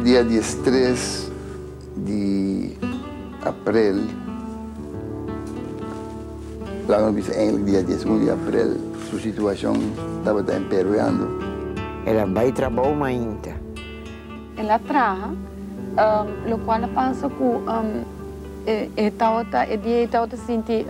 Dia diestres di aprel, la nos bisa eindelijk dia dies un di aprel, su situacion tabata empeoreando. El a bai trabou mainta. El a traha, locual a pasa cu e tabata, e dia ei tabata sinti,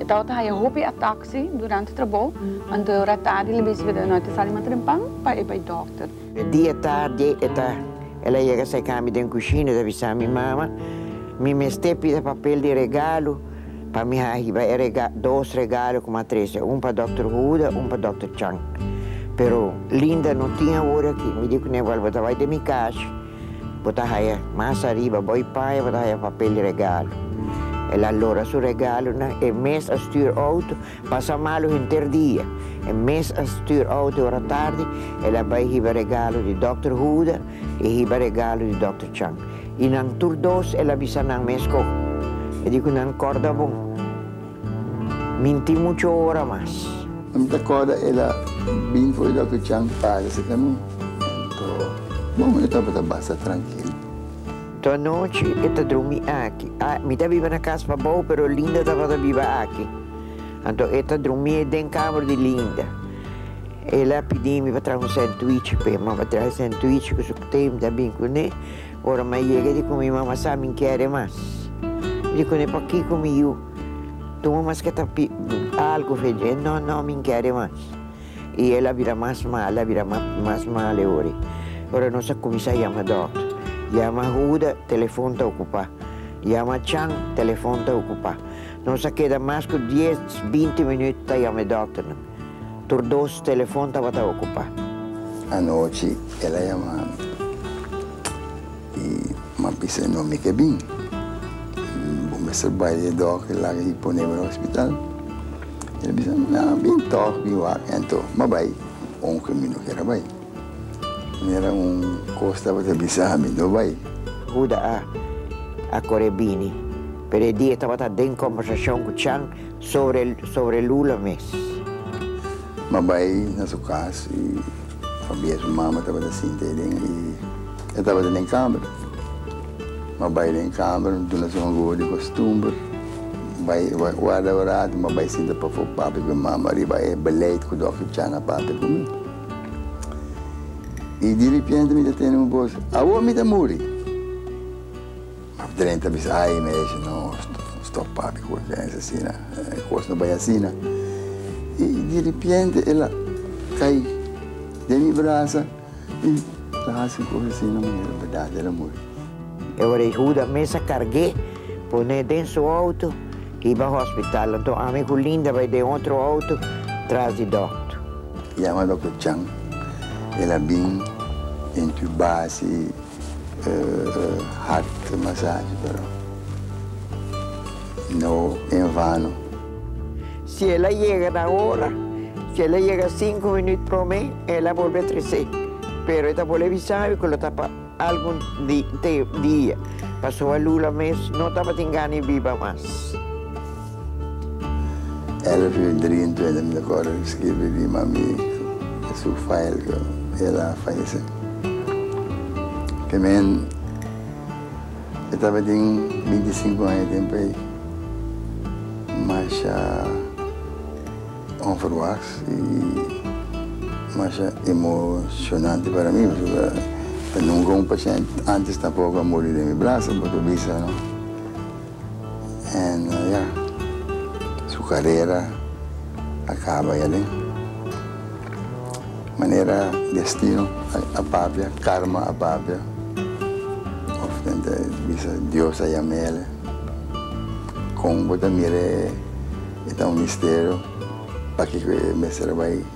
e tabata haya hopi atak. Si, durante trabou, an doi ora tardi el a bisa Fedra, No, e ta sali mata den pan pa e bai dòkter. E dia tardi e ta, el a yega sai kami den kushina, e ta bisa mi, Mama, mi mester pida papel di regalo pa mi hahiba e rega, dos regalo ku mi a trese, un pa dòkter Huda, un pa dòkter Chang. Pero Linda no tin awor aki. Mi di ku Neval, Bo ta bai den mi kas. Bo ta haya mas ariba bo y paña bo ta haya papel di regalo. El a lora su regalonan, e mes a stuur auto, pasa malu henter dia. E mes a stuur auto y ora tardi el a bay hiba regalo di Dòkter Huda y hiba regalo di Dòkter Chang. Y nan tur dos el a bisa nan mes con. E di cu nan corda bon. Minti mucho ora mas. No mi ta corda el a bin fo'i loke Chan pasa si ca mi. Ento, bon, e tabata basta trankil. To anochi e ta drumi aki. A, mi ta biba na cas pabou, pero Linda tabata biba aki. Anto e ta drumi den kamer di Linda. El a pidi mi pa traha un sandwich p'e. Mama traha e sandwich cu su team ta bin cu ne. Ora mi a yega di cu mi mama sa mi kere mas. Di cune pakico mi yu tuma mas ca ta algo fe dje, no, no, mi kere mas. Y el a bira mas mal, a bira mas mal e ora. Ora nos a cuminsa yama doctor. Yama Huda, telefon ta ocupa. Yama Chan, telefon ta ocupa. Nos a keda mas cu dies, binti minut ta yama e doctornan. Tur dos telefon tabata okupá. Anochi el a yama mi i m'a bisa e nòmber ke bin. Bo mester bai e dòk i laga i pone bo na hospital. El a bisa mi, Nan a bin tòg, bin wak. Anto m'a bai, ounke mi no kere bai. Mi a ra un kos tabata bisa mi, no bai. Huda a kore bini, pero e dia tabata den kòmbersashon ku Chan sobre sobre Lula mes. M'a bai na su cas y pabia su mama tabata sinta ahí den y e tabata den camber. M'a bai den camber, m'duna esnan un goe di costumber, bai guarda un rato, m'a bai sinta pafo papia cu e mama riba e beleid cu Dòkter Chan a papia cu mi. Y diripiente mi ta tene un bos, Awo mi ta muri? Af drenta mi sa ay meshi no stop papi cu e pensa asina e cos no bay asina y diripiente el a cay den mi brasa y ta haci cos asina manera berdad el a muri. E ora y Huda mes a carge pone den su auto y ba hospital anto ami cu Linda bay den otro auto tras di docto. Yama docto Chan el a bin intubasi. Hart e masachi pero no en vano. Si el a yega na ora, si el a yega sinku minüt promé, el a bolbe tresé. Pero e ta bolbe bisabi ku lo ta pa algun dia, pasobra Lula mes no tabatin gana e biba mas. Elf yu drie en twente mi ta kòrda di skirbi di mami e su fail ku el a falesé. Kimen mi tabatin binti i sinku aña tempu ei, masha onverwaks i masha emoshonante para mi pasobra nunka un pashènt ántes tampoko a muri den mi braso pa ta bisa no. En ya su karera a kaba ya den manera destino a papia, karma a papia òf nan ta bisa Dios a yam'el. Kon bo ta mira e ta un misterio pakiko e mester a bai.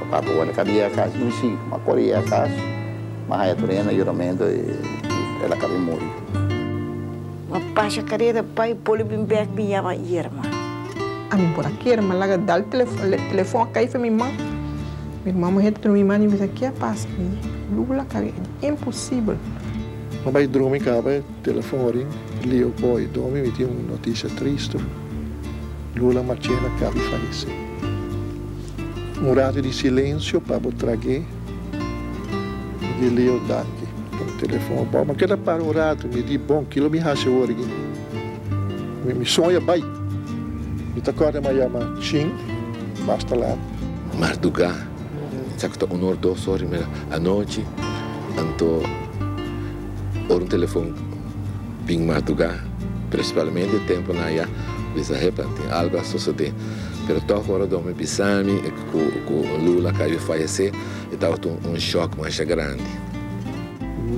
Papá por wòrdu kada yega kas. Mi si, ma kore yega kas, ma haya tur hende ayudamento i el a kabí muri. Ma pasha kareda bai, Poli bin bèk bin yama Irma. Ami por a kere, ma laga dal telefòn a kai fe mi man. Mi erman muhé ta tuma mi man i bisa, Ke a pasa? Lula kareda, imposibel! No bai drumi kaba. Telefon ring, Leo Boy Domi mi tin un noticia triste Lula Machena cabi falece Un rato di silencio pa bo trague Mi di Leo danki pa un telefon a bo ma keda para un rato mi di bon kilo mi haci awor aki Mi mi soña bay Mi ta corda ma ya ma chin mas ta laat. Mardugá sa cu ta uno or dos ora di middag anochi anto. Ora un telefon bin matugá, prinsipalmente e tempu na ya bisa, Hepa, tin algu a sosodé. Pero tòg ora Dome bisa mi ku Lula a kayu fayesé, e tabata un shòk masha grandi.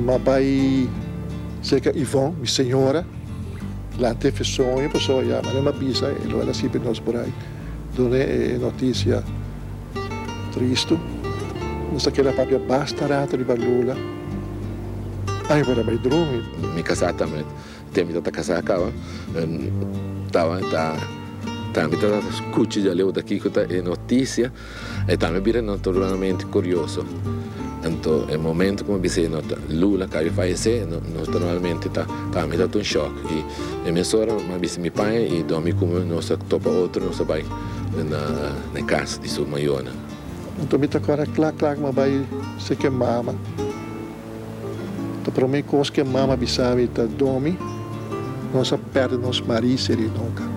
M'a bai serka Yvonne, mi señora, lanta e fesonjo, pasobra ya m'a bisa e lo a lasibe nos por ahí done e notisia. Tristu, nos ta keda papia basta rato riba lula, ay por a bai drumi. Mi kasá tambe, tempo mi ta kasá kaba, tawa e ta, tambe ta skucha dja leu ta kiko ta e notisia, e tambe bira naturalmente kurioso. Anto e momento ku mi a bis'é no ta, Lula kabe falesé, nos normalmente ta, tambe ta ta un shòk. I e mesora mi a bis'é mi paña i dòmi kume nos a topa otro, nos a bai na. na e kas di su mayonan. Anto mi ta kòrda kla kla ku mi a bai seki e mama. Ta promé kos ku e mama a bisa mi ta, Domi, nos a pèrdè nos Mari Serinoka.